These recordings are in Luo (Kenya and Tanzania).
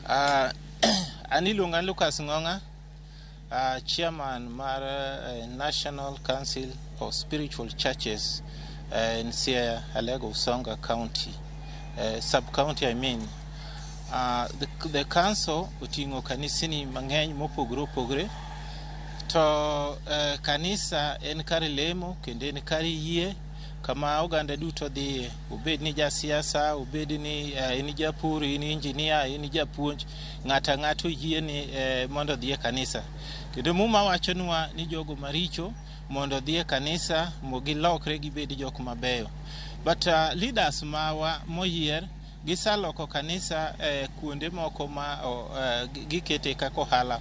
Uh, an iluonga Lucas Ng'ong'a, uh, chairman mar uh, National Council of Spiritual Churches uh, in Siaya, Alego, Usonga County, uh, sub-county I mean. Uh, the, the council oting'o kanisni mang'eny mopogore opogore to uh, kanisa en kar lemo kendo en kar yie kama oganda duto dhiye, obed ni jasiasa, obed ni eh, in japur, in injinia, in japuonj, ng'ato ang'ata oyie ni eh, mondo odhi e kanisa. Kendo Muma wachonwa ni jogo maricho mondo odhi e kanisa mo gilokre gibed jok mabeyo. But uh, leaders mawa moyier gisaloko kanisa eh, kuonde moko ma oh, eh, gi- gikete kaka ohala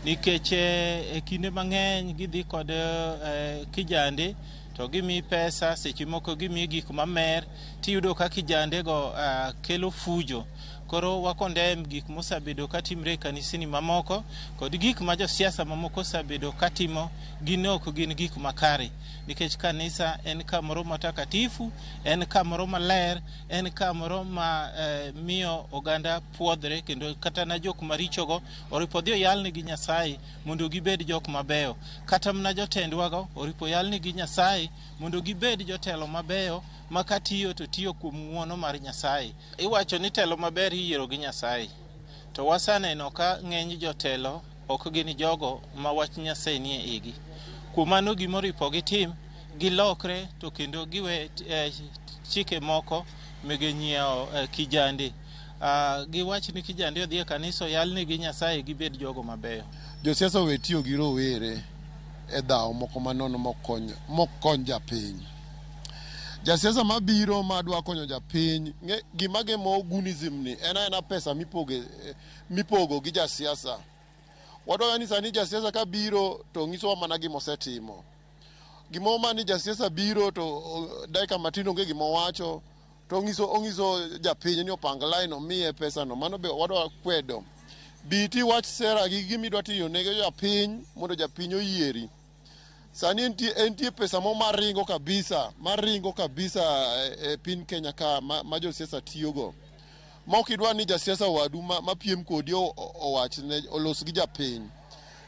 nikech eh, e kinde mang'eny gidhi kod eh, kijande to gimiyi pesa seche moko gimiyi gik mamer tiyudo ka kijandego uh, kelo fujo koro wakondem gik mosabedo katimre e kanisni mamoko kod gik ma josiasa mamoko osabedo katimo gin ok gin gik makare nikech kanisa en kamoro matakatifu en kamoro maler en kamoro ma eh, miyo oganda puodhre kendo kata na jok marichogo oripo dhi oyalne gi nyasaye mondo gibed jok mabeyo. Kata mana jotendwago oripo yalnigi Nyasaye mondo gibed jotelo mabeyo ma katiyo to tiyo kuom ng'uono mar Nyasaye. Iwacho ni telo maber iyiero gi Nyasaye, to waseneno ka ng'eny jotelo ok gin jogo ma wach Nyasaye nie igi. Kuom mano gimoripo gitim, gilokre to kendo giwe eh, chike moko mege nyiewo eh, kijande. Ah, giwach ni kijande odhi e kanisa oyalnegi Nyasaye gibed jogo mabeyo. Josiasa owe tiyo gi rowere e dhawo moko manono mok kony mok kony japiny. Jasiasa mabiro madwa konyo japiny, ng'e- gima gemo gunism ni en aena pesa mipoge, eh, mipogo gi jasiasa. Wadwaro ni sani jasiasa kabiro to ng'isowa mana gima osetimo. Gimoro ma ni jasiasa biro to oh, dakika matin onge gima owacho, to ongiso ongiso japiny ni opang line omiye pesa no mano be wadwa kwedo biti wach sera gi gimi dwa tiyo ne japiny mondo japiny oyieri sani entie entie pesa mo maringo kabisa maringo kabisa e, e pin Kenya ka ma, ma josiasa tiyogo ma ok idwa ni jasiasa wadu ma, ma piem kodi owach ne olos gi japiny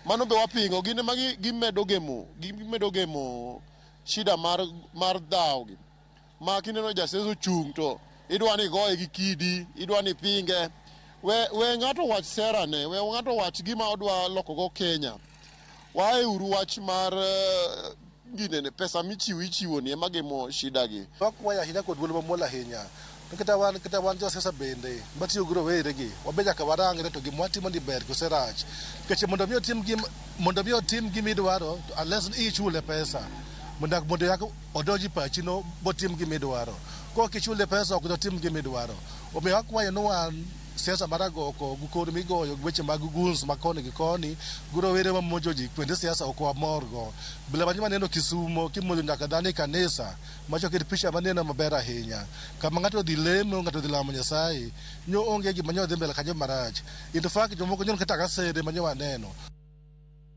mano be wapingo gin ma gimedo gemo gimedo gemo shida mar mar dhawo gi ma kineno jaseso chung' to idwa ni igoye gi kidi, idwa ni ipinge. We, we ng'ato wach serane, we ng'ato wach gima odwa lokogo Kenya. Wae uru wach mar eh, ginene pesa michiwo ichiwo ni ema gemo shida gi. Wakwaya ahinya kod dwol mamuol ahinya. To kata wan kata wan josiasa bende matiyo gi roweregi wabe nyaka warangre to gima watimo ni ber kose rach. Nikech mondo mi otim gim mondo mi otim gima idwaro to unless ni ichule pesa mondo mondo yak odonji pachi no botim gima idwaro. Kok ichule pesa ok dotim gima idwaro. Omiyo akwayo ni wan siasa mar agoko gi kor migoyo gi weche mag guns ma koni gi koni gi rowere mamonjo ji kuonde siasa ok wamorgo. Bila manyi maneno Kisumo kimonjo nyaka dhano e kanisa Mach oket picha maneno maber ahinya. Kama ng'ato odhi lemo, ng'ato odhi lamo Nyasaye, nyo onge gima nyo dhi mbele kanyo marach. In fact, jomoko nyo kata gasede ma nyo waneno.